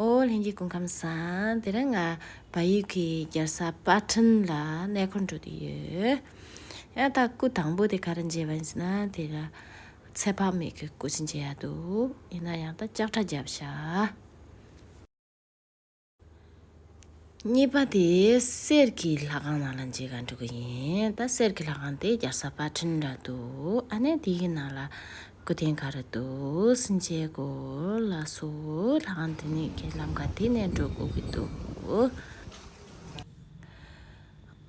ཨོ་ལྷན་གྱི་སྐུ་ཁམས་བཟང། དེ་རིང་ང་བལ་ཡུལ་གྱི་རྒྱལ་ས་པ་ཁྲིན་ལ་གནས་འཁོར་འགྲོ་དུས་ཡོད། ཡང་དག་སྐུ་དང་པོ་དེ་ག་རེ་མཇལ་བ་ཡིན་ཟེར་ན་དེ་ག་ཚད་ཕ་མེས་ཀྱི་སྐུ་ཞིག་མཇལ་ཡག་འདུག་ཡིན་ན་ཡང་དག་ལྕགས་ཁྲ་རྒྱབ་ཤག། གཉིས་པ་དེ་གསེར་གྱི་ལྷ་ཁང་ནང་ལ་འཇིག་ག་འགྲོ་གི་ཡིན་ད་གསེར་གྱི་ལྷ་ཁང་དེ་རྒྱར་ས་པ་ཁྲིན་ར་འདུག་ཨ་ནེ་དེའི་ནང་ལ་སྐུ་རྟེན་ག་རེ་འདུག་སུན་ཅེ་གོ་ལ་སོ་ལྷ་ཁང་དེ་ནི་ཁྱེད་ལམ་ག་དེ་ནས་འགྲོ་དགོས་ཀྱི་འདུག།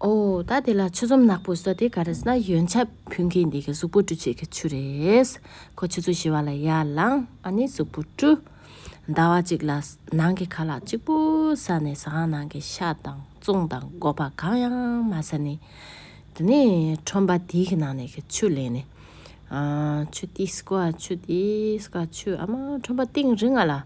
ཨོ། ད་དེ་ལ་ཆུ་ཟོམ་ནག་པོ་ཟེར་དེ་ག་རེ་ཟེར་ན་ཡོན་ཆབ་ཕུན་མཁན་འདི་གི་གཟུགས་པོ་བཀྲུ་བྱེད་ཀྱི་ཆུ་རེད། ཁོ་ཆུ་ཚོད་བྱེ་བ་ལ་ཡར་ལངས་ཨ་ནི་གཟུགས་པོ་བཀྲུ། ཟླ་བ་གཅིག་ལ་ནང་གི་ཁ་ལག་གཅིག་པུ་ཟ་ནས་ཟ་ཁང་ནང་གི་ཤ་དང་བཙོང་དང་སྒོ་ཕག་གང་ཡང་མ་ཟ་ནས། དེ་ནས་ཁྲོམ་པ་དེ་གི་ནང་ནས་གི་ཆུ་ལེན་ནས། ཆུ་དེ་སྐོ་ཆུ་དེ་སྐོ་ཆུ་ཨ་མ་ཁྲོམ་པ་སྟེང་རི་ང་ལ།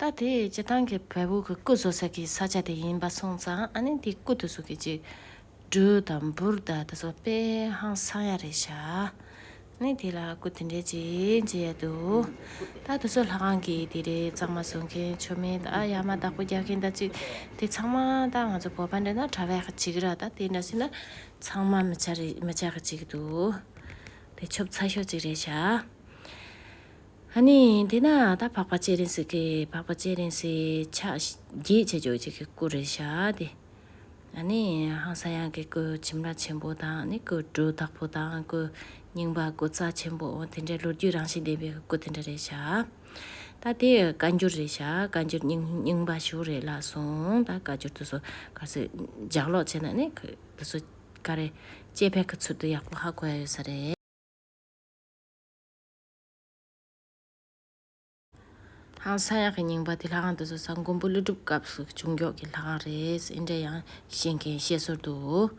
ད་དེ་སྤྱི་བཏང་གི་བལ་བོ་གི་སྐུ་བཟོ་ས་གི་ས་ཆ་དེ་ཡིན་པ་སོང་ཙང་ཨ་ནི་དེ་སྐུ་དེ་བཟོ་གི་ཅིག་སྦྲུལ་དང་འབུར་དང་དེ་ཚོ་དཔེ་ཧང་སང་ཡ་རེད་ཤ་ནི་དེ་ལ་སྐུ་དེ་འདྲས་ཅིག་འབྱེད་ཡ་འདུག་ད་དེ་ཚོ་ལྷ་ཁང་གི་དེ་རེད་གཙང་མ་བཟོ་མཁན་ཆོ་མེད་ད་ཡ་མ་བདག་པོ་རྒྱག་མཁན་ད་ཅིག་དེ་ཚང་མ་ད་ང་ཚོ་བོད་པ་འདྲ་ན་གྲ་བས་ཅིག་ར་ད་དེ་འདྲ་སྲིད་ན་ཚང་མ་མི་བྱ་རེད་མི་བྱ་གི་ཅིག་འདུག་དེ་ཆོབ་ཚ་ཤོས་ཅིག་རེད་ཤ། ཧ་ནི་དེས་ན་ད་འཕགས་པ་སྤྱན་རས་གཟིགས་ཀྱིས་འཕགས་པ་སྤྱན་རས་གཟིགས་ཕྱག་རྒྱས་ཆེ་བརྗོད་ཅིག་གི་སྐུ་རེ་བྱ་སྟེ། ཨ་ནི་ཧང་ས་ཡང་གི་སྐུ་ཁྱིམ་ར་ཆེན་པོ་དང་ནི་སྐུ་གྲུ་བདག་པོ་དང་སྐུ་རྙིང་པ་སྐུ་རྩ་ཆེན་པོ་དེ་འདྲའི་ལོ་རྒྱུས་རང་བཞིན་ལྡན་པའི་སྐུ་དེ་འདྲ་རེ་བྱ། ད་དེ་བཀའ་འགྱུར་རེ་བྱ་བཀའ་འགྱུར་རྙིང་པ་ཞུ་རེ་ལ་སོང་ད་བཀའ་འགྱུར་དུ་སོ་ག་སོ་ལྗགས་ཀློག་བྱས་ན་ནི་དུ་སོ་ག་རེ་དཔྱད་ཕན་གྱི་ཚུལ་དུ་ཡག་པོ་ཧ་གོ་ཡ་ཡོད་ས་རེད། ཧང་སངས་ཡག་གི་རྙིང་པ་དེ་ལྷ་ཁང་དུ་བཟོ་ས་མགོན་པོ་ཀླུ་སྒྲུབ་སྐབས་སུ་བྱུང་མགྱོགས་ཀྱི་ལྷ་ཁང་རེད་ཟེར་འདྲ་ཡང་བཤད་མཁན་བཤད་སྲོལ་འདུག་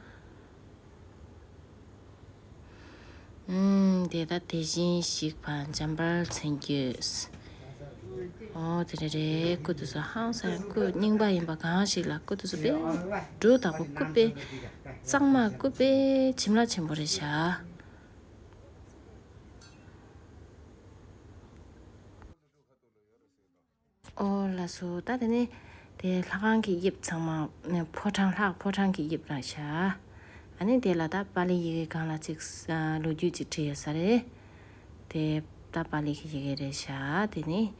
དེ་ལྟ་དེ་བཞིན་ཞིག་བར་འཇམ་པར་མཚན་རྒྱུད། ཨོ་དེ་འདྲ་རེད་སྐུ་དུས་སུ་ཧང་སངས་ཡག་སྐུ་རྙིང་པ་ཡིན་པ་གང་ཞིག་ལ་སྐུ་དུས་སུ་དཔལ་སྦྲུལ་དང་པོ་སྐུ་དཔེ་གཙང་མ་སྐུ་དཔེ་བྱིན་རླབས་ཆེན་པོ་རེད་བྱ། ཨོ་ལ་སོ་ད་དེ་ནས་དེ་ལྷ་ཁང་གི་དབྱིབས་ཚང་མ་ཕོ་བྲང་ལྷག་ཕོ་བྲང་གི་དབྱིབས་ལ་བྱ། ཨ་ནི་དེ་ལ་ད་པཱ་ལིའི་ཡི་གེ་གང་ལ་ཅིག་ལོ་རྒྱུས་ཅིག་བྲིས་ཡོད་ས་རེད། དེ་ད་པཱ་ལིའི་ཡི་གེ་རེད་བྱ། དེ་ནས་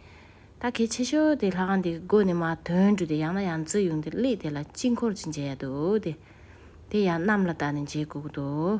ད་གལ་ཆེ་ཤོས་དེ་ལྷ་ཁང་དེ་སྒོ་ནས་མ་དོན་བྲུས་ཏེ་ཡང་ན་ཡང་རྩི་ཡུངས་དེ་བླུས་དེ་ལ་དཀྱིལ་འཁོར་ཅིག་མཇལ་ཡ་འདུག་དེ་དེ་ཡང་གནམ་ལ་ད་ནི་མཇལ་དགོས་ཀྱི་འདུག།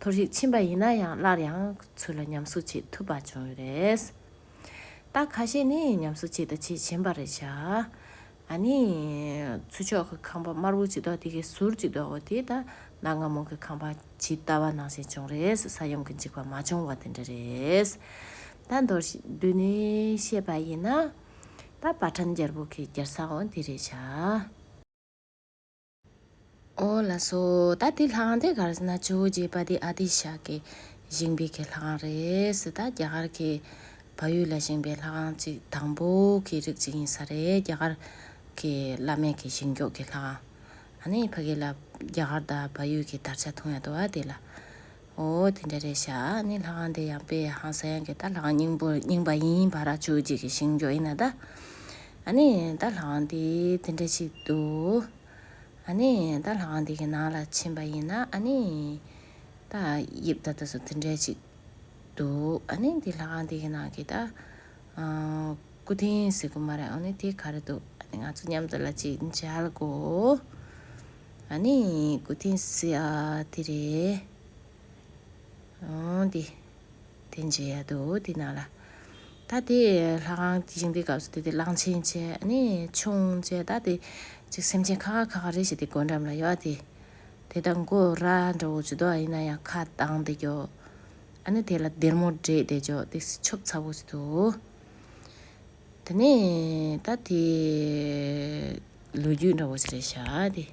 ཐོར་ཞིག་ཕྱིན་པ་ཡིན་ན་ཡང་སླར་ཡང་ཚུར་ལ་ཉམས་གསོ་བྱེད་ཐུབ་པ་བྱུང་ཡོད་རེད། རྟགས་ཁ་ཤས་ནི་ཉམས་གསོ་བྱེད་ད་ཆེས་ཞན་པ་རེད་བྱ། ཨ་ནི། ཚུར་ཕྱོགས་ཀྱི་ཁང་པ་དམར་བོ་ཇི་ལྟ་བ་དེ་གའི་ཟུར་ཇི་ལྟ་བ་དེ་ད་གནའ་སྔ་མོ་གི་ཁང་པ་ཇི་ལྟ་བ་ནང་བཞིན་བྱུང་རེད་ས་ཡོམ་གྱི་འཇིགས་པ་མ་བྱུང་བ་དེ་འདྲ་རེད། ད་མདོར་བསྡུས་ནས་བཤད་པ་ཡིན་ན། ད་བ་ཁྲམ་རྒྱལ་པོ་གི་རྒྱལ་ས་འོང་དེ་རེད་བྱ། ཨོ་ལ་སོ། ད་དེ་ལྷང་དེ་གར་སྣ་ཆོས་རྒྱས་པ་དེ་ཨ་ཏི་ཤ་ཀེ་བཞེངས་པའི་ཁས་ལྷང་རེད། ད་རྒྱ་གར་གྱི་བ་ཡུལ་ལ་བཞེངས་པའི་ལྷང་ཅིག་དང་པོ་གི་རིགས་ཅིག་ཡིན་ས་རེད་རྒྱ་གར་གྱི་བླ་མེད་ཀྱི་ཞིང་འཇོག་གི་ལྷང། ཨ་ནི་ཕ་གི་ལ་རྒྱ་གར་དང་བ་ཡུལ་གྱི་དར་ཆ་ཐུང་ཡ་དོ་ཨ་དེ་ལ། ཨོ་དེ་འདྲ་རེད་ཤག་ནི་ལྷ་ཁང་དེ་ཡང་དཔེ་ཧང་ས་ཡང་གི་ད་ལྷ་ཁང་རྙིང་པོ་རྙིང་པ་ཡིན་བ་ར་ཆུ་གཅིག་གི་ཞིང་མགྱོགས་ཡིན་ན་ད། ཨ་ནི་ད་ལྷ་ཁང་དེ་དེ་འདྲ་ཞིག་འདུག་ཨ་ནི་ད་ལྷ་ཁང་དེ་གི་ནང་ལ་ཕྱིན་པ་ཡིན་ན་ཨ་ནི་ད་དབྱིབས་ད་ད་སོ་དེ་འདྲ་ཞིག་འདུག་ཨ་ནི་དེ་ལྷ་ཁང་དེ་གི་ནང་གི་ད། སྐུ་རྟེན་ཟེར་གི་མ་རེད་ཨོ་ནི་དེ་ག་རེ་འདུག་ཨ་ནི་ང་ཚོ་མཉམ་དུ་ལ་ཅིག་མཇལ་དགོས། ཨ་ནི་གུ་ཐིན་སི་ཨ་དེ་རེད། ཨོང་དེ་དེ་འབྱེད་ཡ་འདུག་དེ་ནང་ལ། ད་དེ་ལྷ་ཁང་དེ་བཞེངས་པའི་སྐབས་སུ་དེ་དེ་གླང་ཆེན་བཅས་ཨ་ནི་ཆུང་བཅས་ད་དེ་ཅིག་སེམས་ཅན་ཁ་ཁ་ཁ་ཁ་རེ་བྱས་ཏེ་སྒོ་འགྲམ་ལ་ཡོད་དེ། དེ་ད་མགོ་ར་འདྲ་བོ་ཇུ་དོག་ཡིན་ན་ཡང་ཁ་གདངས་ཏེ་རྒྱོ། ཨ་ནི་དེ་ལ་སྡེར་མོ་བསྒྲེས་ཏེ་རྒྱོ་སྟེ་སི་ཆོབ་ཚ་བོ་ཟེར་དུ། དེ་ནས་ད་དེ་ལོ་རྒྱུས་འདྲ་བོ་ཞིག་རེད་ཤག་དེ།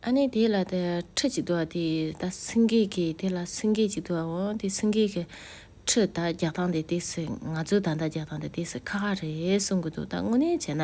ཨ་ནི་དེ་ལ་དེ་ཁྲི་ཅིག་འདུག་དེ་ད་སེང་གེ་གི་དེ་ལ་སེང་གེ་ཅིག་འདུག་འོ་དེ་སེང་གེ་གི་ཁྲི་ད་རྒྱག་སྟངས་དེ་དེ་སི་ང་ཚོའི་ད་ད་རྒྱག་སྟངས་དེ་དེ་སི་ཁ་ཁ་རེད་གསུང་གི་འདུག་ད་དངོས་གནས་བྱས་ན།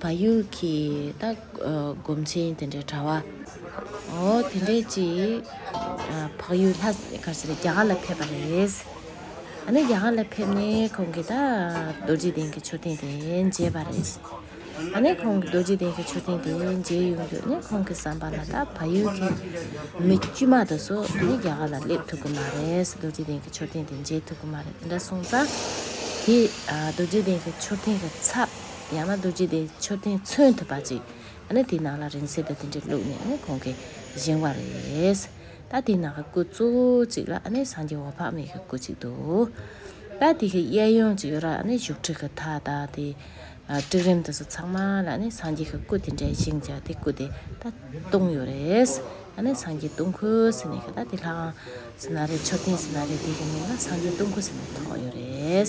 བ་ཡུལ་གྱི་ད་སྒོམ་ཆེན་དེ་འདྲའི་གྲྭ་བ། འོ་དེ་འདྲས་ཀྱིས་བག་ཡོད་ལྷ་ག་ཟེ་རེད་རྒྱ་གར་ལ་ཕེབས་པ་རེད། ཨ་ནི་རྒྱ་གར་ལ་ཕེབས་ནས་ཁོང་གིས་ད་རྡོ་རྗེ་གདན་གྱི་མཆོད་རྟེན་དེ་མཇལ་བ་རེད། ཨ་ནི་ཁོང་གིས་རྡོ་རྗེ་གདན་གྱི་མཆོད་རྟེན་དེ་མཇལ་ཡོང་དུས་ནི་ཁོང་གི་བསམ་པ་ལ་ད་བ་ཡུལ་གྱི་མི་དཀྱུས་མ་དེ་ཚོ་ནི་རྒྱ་གར་ལ་སླེབས་ཐུབ་ཀྱི་མ་རེད་རྡོ་རྗེ་གདན་གྱི་མཆོད་རྟེན་དེ་མཇལ་ཐུབ་ཀྱི་མ་རེད་དེ་འདྲ་གསུངས་ཙང། དེས་རྡོ་རྗེ་གདན་གྱི་མཆོད་རྟེན་གྱི་ཚབ། ཡང་ན་རྡོ་རྗེ་དེ་མཆོད་རྟེན་མཚོན་ཐུབ་པ་ཅིག་ཡང་ན་དེའི་ནང་ལ་རིང་བསྲེལ་དུ་དེ་འདྲས་བླུགས་ནས་ནི་གོང་གི་བཞེངས་བ་རེད། ད་དེའི་ནང་གི་སྐུ་གཙོ་བོ་ཅིག་ལ་ནི་སངས་རྒྱས་འོག་འཕགས་མའི་གི་སྐུ་ཅིག་འདུག། ད་དེ་གི་གཡས་གཡོན་ཅིག་ཡོད་ར་ནི་བཞུགས་ཁྲི་གི་མཐའ་དང་དེའི་སྤྲིན་རིམ་དུ་སོ་ཚང་མ་ལ་ནི་སངས་རྒྱས་གི་སྐུ་དེ་འདྲས་བཞེངས་བྱ་དེ་སྐུ་དེ་ད་སྟོང་ཡོད་རེད། ཡང་ན་སངས་རྒྱས་སྟོང་ཁུ་ཟེར་ནས་གི་ད་དེ་ལྷའང་ཟེར་ན་རེད་མཆོད་རྟེན་ཟེར་ན་རེད་དེ་གི་མིང་ལ་སངས་རྒྱས་སྟོང་ཁུ་ཟེར་ནས་ཐོགས་ཡོད་རེད།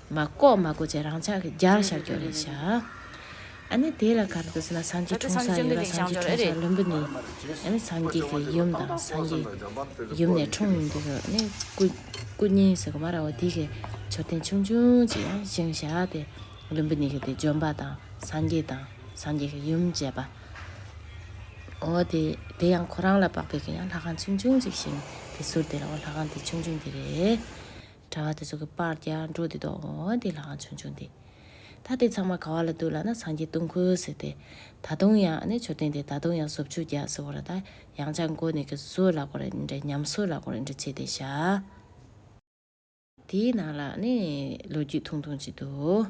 མ་བཀོག་མ་བཀོག་ཅེས་རང་ཅག་གི་རྒྱ་ལ་ཤར་ཀྱོག་རེད་བྱ། ཨ་ནི་དེ་ལ་ག་རེ་དུ་ཟེར་ན་སངས་རྒྱས་འཁྲུངས་ས་ཡོད་ལ་སངས་རྒྱས་འཁྲུངས་ས་བློན་པོ་ནི་ཨ་ནི་སངས་རྒྱས་ཀྱི་ཡུམ་དང་སངས་རྒྱས་ཡུམ་ནས་འཁྲུངས་ཡིན་འདུག་གོ་ཨ་ནི་སྐུ་སྐུ་བརྙན་ཟེར་གོ་མ་ར་བ་དེ་གའི་མཆོད་རྟེན་ཆུང་ཆུང་ཅིག་ཡང་བཞེངས་བཞག་སྟེ་བློན་པོ་ནི་གི་དེ་འཇོམས་པ་དང་སངས་རྒྱས་དང་སངས་རྒྱས་ཀྱི་ཡུམ་བཅས་པ་འོ་དེ་དེ་ཡང་ཁོ་རང་ལ་དཔག་པའི་གི་ཡང་ལྷ་ཁང་ཆུང་ཆུང་ཅིག་བཞེངས་དེ་ཟུར་དེ་ལའོ་ལྷ་ཁང་དེ་ཆུང་ཆུང་དེ་རེད། དྲ་བ་དེ་ཚོ་གི་པར་རྒྱག་འགྲོ་དེ་དོག་མོ་དེ་ལའང་བྱུང་བྱུང་དེ། ད་དེ་ཚང་མ་ག་བ་ལ་འདུག་ལ་ན་སངས་རྒྱས་སྟོང་ཁུལ་ཟེར་དེ། ད་དུང་ཡང་ནི་མཆོད་རྟེན་དེ་ད་དུང་ཡང་ཟོབ་ཆུ་རྒྱག་ཟེར་བ་ར་ད་ཡང་ཆ་མགོ་ནས་གི་བཟོས་ལ་གོ་རེ་འདྲ་ཉམས་བཟོས་ལ་གོ་རེ་འདྲ་བྱས་དེ་བཞག། དེའི་ནང་ལ་ནི་ལོ་རྒྱུས་ཐུང་ཐུང་ཅིག་འདུག།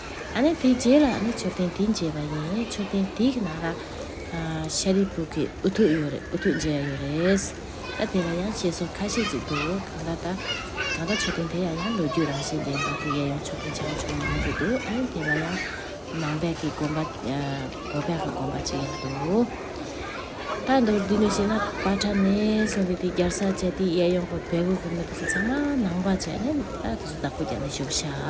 ཨ་ནི་དེའི་རྗེས་ལ་ཨ་ནི་མཆོད་རྟེན་དེ་མཇལ་བ་ཡིན་མཆོད་རྟེན་དེའི་ནང་ལ་ཤཱ་རིའི་བུ་གི་འུ་ཐུག་ཡོད་རེད་འུ་ཐུག་མཇལ་ཡ་ཡོད་རེད། ད་དེ་ལ་ཡང་བཤད་སྲོལ་ཁ་ཤས་ཅིག་འདུག་གང་ལྟར་ད་གང་ལྟར་མཆོད་རྟེན་དེ་ཡང་ཡང་ལོ་རྒྱུས་རང་བཞིན་ལྡན་པ་དེ་ཡས་ཡོང་མཆོད་རྟེན་ཆེན་མོ་ཆུང་མོ་མང་དུ་འདུག་ཨ་ནི་དེ་ལ་ཡང་ནང་པའི་གི་དགོན་པ་གོ་པའི་གི་དགོན་པ་ཅིག་ཡང་འདུག་ད་མདོར་བསྡུས་ནས་བཤད་ན་པ་ཁྲ་ནས་བཟུང་སྟེ་དེའི་རྒྱར་ས་བཅད་དེ་ཡས་ཡོང་པ་བལ་བོའི་བུ་མོ་དེ་ཚོ་ཚང་མ་ནང་པ་བཅས་ནས་ད་དེ་ཚོ་བདག་པོ་རྒྱ་ནས་བཞུགས་ཤག།